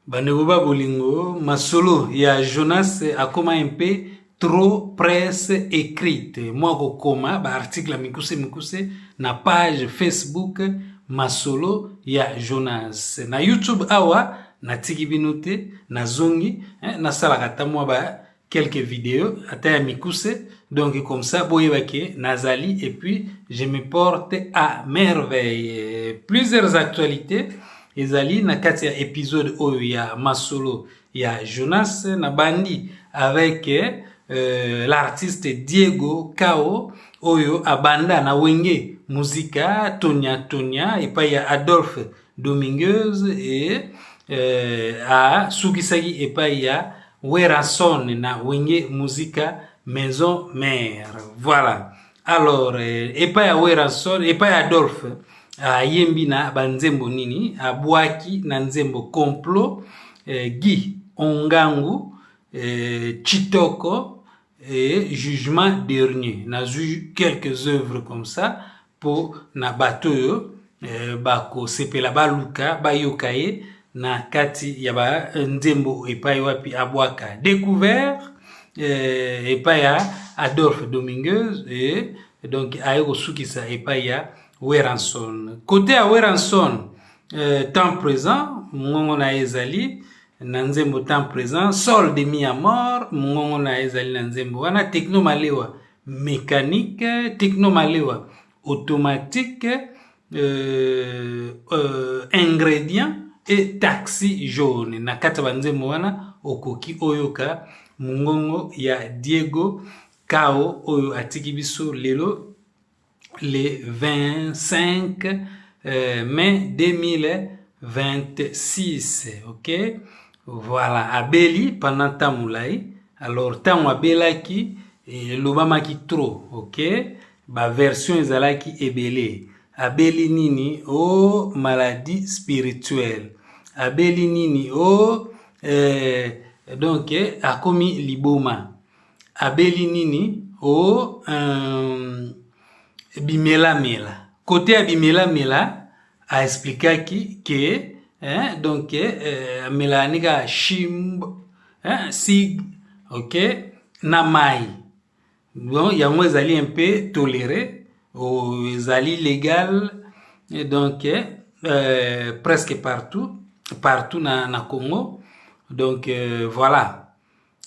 Bandeko ba bolingo, masolo ya Jonas akoma mpe trop presse écrite mwa kokoma baarticle ya mikuse mikuse na page facebook masolo ya jonas na youtube awa natiki bino te nazongi eh, nasalaka ata mwa ba quelques videos ata ya mikuse donc comme ça boyeba ke nazali et puis je me porte à merveille plusieurs actualités ezali na kati ya épisode oyo ya masolo ya Jonas na bandi avec euh, l'artiste Diego Kao oyo abanda na wenge muzika tonia tonia epai ya Adolphe domingueuse e eh, asukisaki epai ya werrason na wenge musika maison mare voilà alors eh, epai ya werrason epai ya adolphe ayembi na banzembo nini abwaki na nzembo complot eh, guy ongangu eh, chitoko Et jugement dernier, nazwi quelques œuvres comme ça mpo na bato oyo eh, bakosepela baluka bayoka ye na kati ya banzembo epai wapi abwaka découvert eh, epai ya Adolphe Dominguez eh, donc aye kosukisa epai ya Weranson. Kote ya Weranson eh, temps présent mongongo na ye ezali na nzembo temps présent sol de mi amor mongongo na ye ezali na nzembo wana techno malewa mécanique techno malewa automatique euh, euh, ingrédient et taxi jaune na kati ya banzembo wana okoki oyoka mongongo ya diego kao oyo atiki biso lelo le 25 euh, mai 2026 ok voilà abeli pendant ntango molai alors ntango abelaki elobamaki trop ok baversion ezalaki ebele abeli nini o oh, maladie spirituelle abeli nini o oh, eh, donc eh, akomi liboma abeli nini o oh, um, bimelamela kote ya bimelamela aexplikaki ke eh, donc eh, amelaka ni kaka shimb eh, sig ok na mai bon yango ezali un peu tolere oh, ezali legal et donc eh, euh, presque partout partout na, na congo donc euh, voilà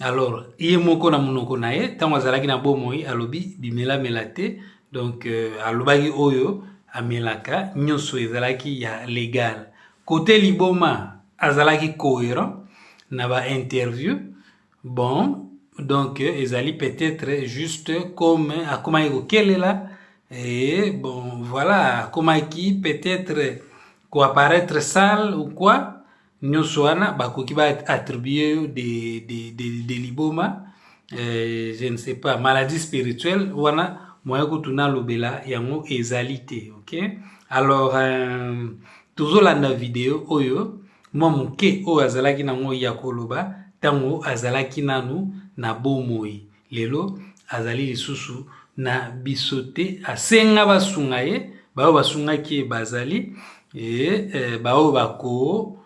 alors ye moko na monoko na ye ntango azalaki na bomoi alobi bimelamela te donc euh, alobaki oyo amelaka nyonso ezalaki ya legal kote liboma azalaki cohérent na ba interview bon donc euh, ezali peut-être juste comme akomaki kokelela et bon voilà akomaki peut-être koapparaître sale ou quoi nyonso wana bakoki ba attribuer yo de, de, de, de liboma eh, je ne sais pas maladie spirituelle wana moya kutu nalobela yango ezali te ok alors euh, tozolanda video oyo mwa moke oyo azalaki nango ya koloba ntango azalaki nanu na bomoi lelo azali lisusu na biso te asenga basunga ye baoyo basungaki ye bazali e, e, baoyo bako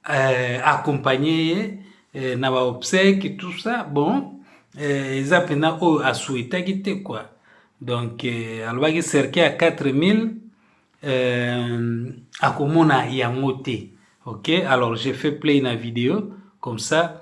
e, accompagne ye e, na baobsèque tout ça bon e, eza mpenza oyo asuetaki te kua donc e, alobaki cercueil ya 4000 e, akomona yango te ok alors je fais play na video comme ça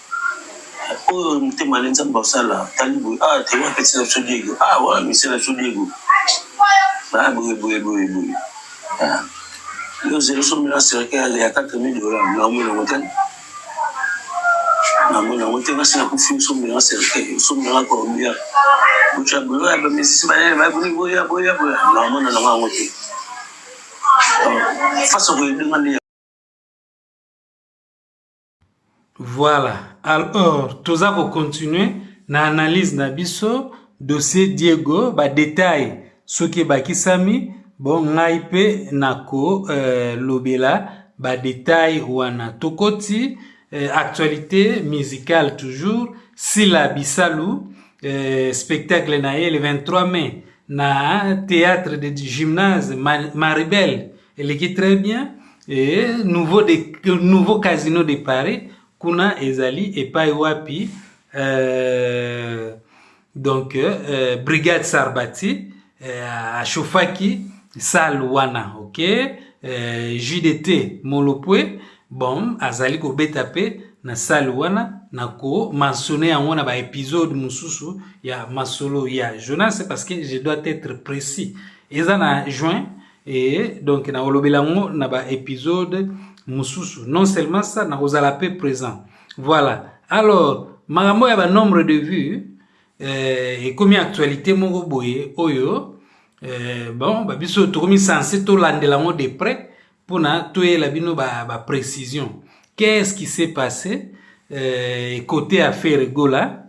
oyo motema ale nzambe basala tali boye ah te wa peti na biso diego ah wa mise na biso diego ah boye boye boye boye ah yo zelo so mila sereke ya ya kata mi dola na omo na mote na mo na mote nga sina kufi so mila sereke so mila ko bia bucha bulo ya bamisi ba ya ba buni boya boya boya na omo na nga mote faso ko yedinga Voilà. Alors, toza ko continuer na analyse na biso dossier Diego ba détails soki ebakisami bon ngai mpe nako euh, lobela ba détails wana tokoti euh, actualité musicale toujours Sila Bisalu euh, spectacle na ye le 23 mai na théâtre de gymnase Maribel eleki très bien e, nouveau, de, nouveau casino de paris kuna ezali epai wapi euh, donc euh, brigade sarbati euh, achauffaki salle wana ok euh, jdt molopwe bon azali kobeta mpe na salle wana na komansone yango na baepisode mosusu ya masolo ya jonas parce que je dois être précis eza na juin Et donc na olobela ngo na ba épisode mususu non seulement ça na kozala pe présent voilà alors makambo ya ba nombre de vues euh, ekomi actualité moko boye oyo euh, bon ba biso tokomi sense tolandela ngo de près mpona toyela bino ba, ba précision qu'est-ce qui s'est passé euh, côté ya ferre gola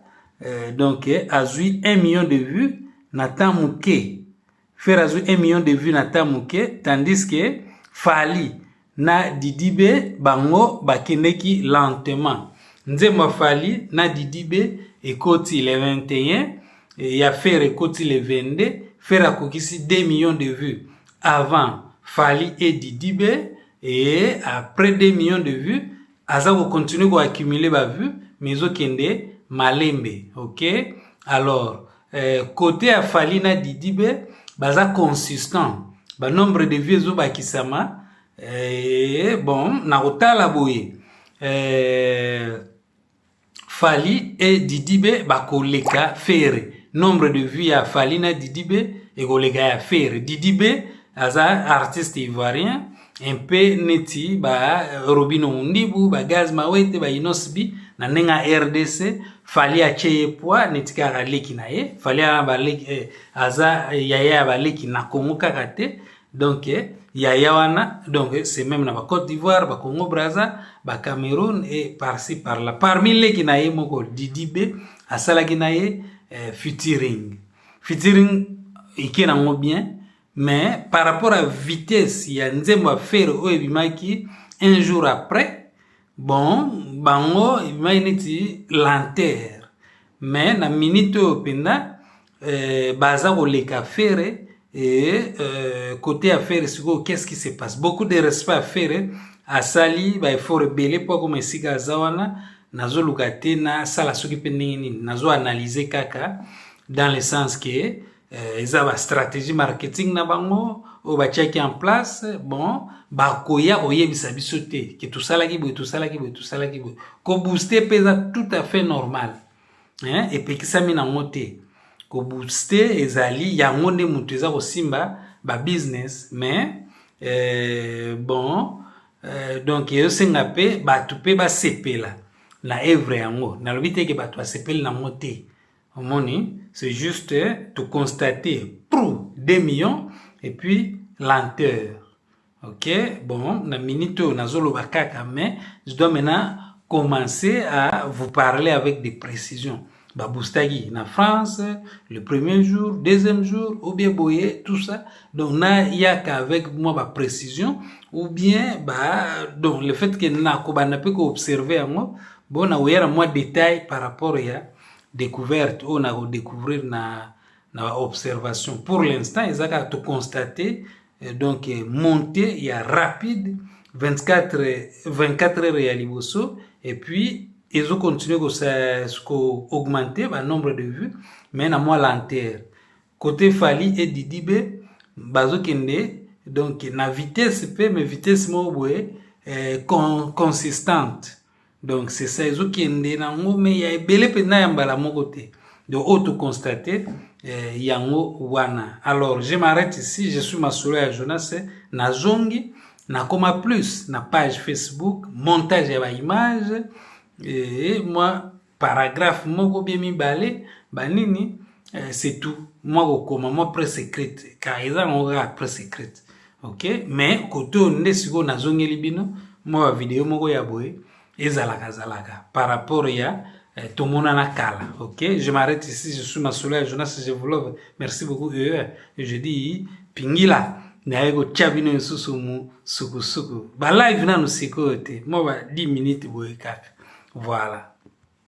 euh, donc azwi 1 million de vues na temps moke Ferre azwi 1 million de vues na ta moke tandis que Fally na Didibe bango bakendeki lentement. Nzembo ya Fally na Didibe ekoti le 21 ya Ferre ekoti le 22. Ferre akokisi 2 millions de vues avant Fally et Didibe et après 2 millions de vues aza ko continuer ko accumuler ba vues mais ezokende malembe ok alors euh, côté ya fali na didi be baza consistant ba nombre de vues ezobakisama euh, bon na kotala boye euh, Fally et Didibe bakoleka Ferre. Nombre de vues ya Fally na Didibe ekoleka ya Ferre. Didibe aza artiste ivoirien un peu neti ba Robino Mundibu, ba Gaz Mawete, ba Inosbi na ndenge ya RDC Fally atie ye poids neti kaka leki na ye. Fally aza eh, yaya ya baleki na Congo kaka te. donc eh, yaya wana donc eh, c'est même na ba Côte d'Ivoire ba Congo Brazza ba Cameroun et par ci par là parmi leki na ye moko Didi B asalaki na ye eh, featuring featuring ike nango bien mais par rapport à vitesse ya nzembo ya fere oyo ebimaki un jour après bon bango ebimaki neti lenteur mais na minute oyo mpenza euh, baza koleka fere et euh, côté ya fere sikoyo qu'est-ce qui se passe beaucoup de respect ya fere asali baeffort ebele mpo akoma esika aza wana nazoluka te nasala soki mpe ndenge nini nazo analyse kaka dans le sens que euh, eza ba stratégie marketing na bango oyo batiaki en place bon bakoya koyebisa biso te ke tosalaki boye tosalaki boye tosalaki boye kobooste mpe eza tout à fait normal eh, epekisami nango te kobooste ezali yango nde moto eza kosimba babusiness mais eh, bon eh, donc ezosenga mpe bato mpe basepela na evre yango nalobi te ke bato basepeli nango te omoni c'est juste to constate prou 2 millions et puis lenteur Ok, bon, na minute oyo nazoloba kaka, mais je dois maintenant commencer à vous parler avec des précisions. Baboustagi na France, le premier jour, deuxième jour, ou bien boyer, tout ça. Donc, na yaka avec moi ba précision, ou bien bah, donc le fait que na koba na peut observer en moi, bon na oyer moi détail par rapport à découverte ou na découvrir na na observation. Pour l'instant, ils ont tout constater Et donc montée ya rapide 24 24 heures ya liboso et puis ezo continuer ko ko augmenter ba nombre de vues mais na mwa lenteur côté Fally et Didi B bazokende donc na vitesse mpe mais vitesse moko boye eh, con, consistante donc c'est ça ezokende na ngome ya ebele mpenza ya mbala moko te donc oyo toconstate eh, yango wana alors je m'arrête ici je suis masolo ya jonas nazongi nakoma plus na page facebook montage ya baimage e eh, mwa paragraphe moko bie mibale banini eh, c'est tout mwa kokoma mwa presse écrite car eza yango kaka presse écrite ok mais kote oyo nde sikoyo nazongeli bino mwa bavideo moko ya boye ezalaka zalaka par rapport ya eh, tomonana kala ok je m'arrête ici je suis masolo ya jonas je vous love merci beaucoup ee eh, je dis pingila naye kotya bino lisusu mu sukusuku ba live nanu sikoyo te mwa ba 10 minutes boye kaka voilà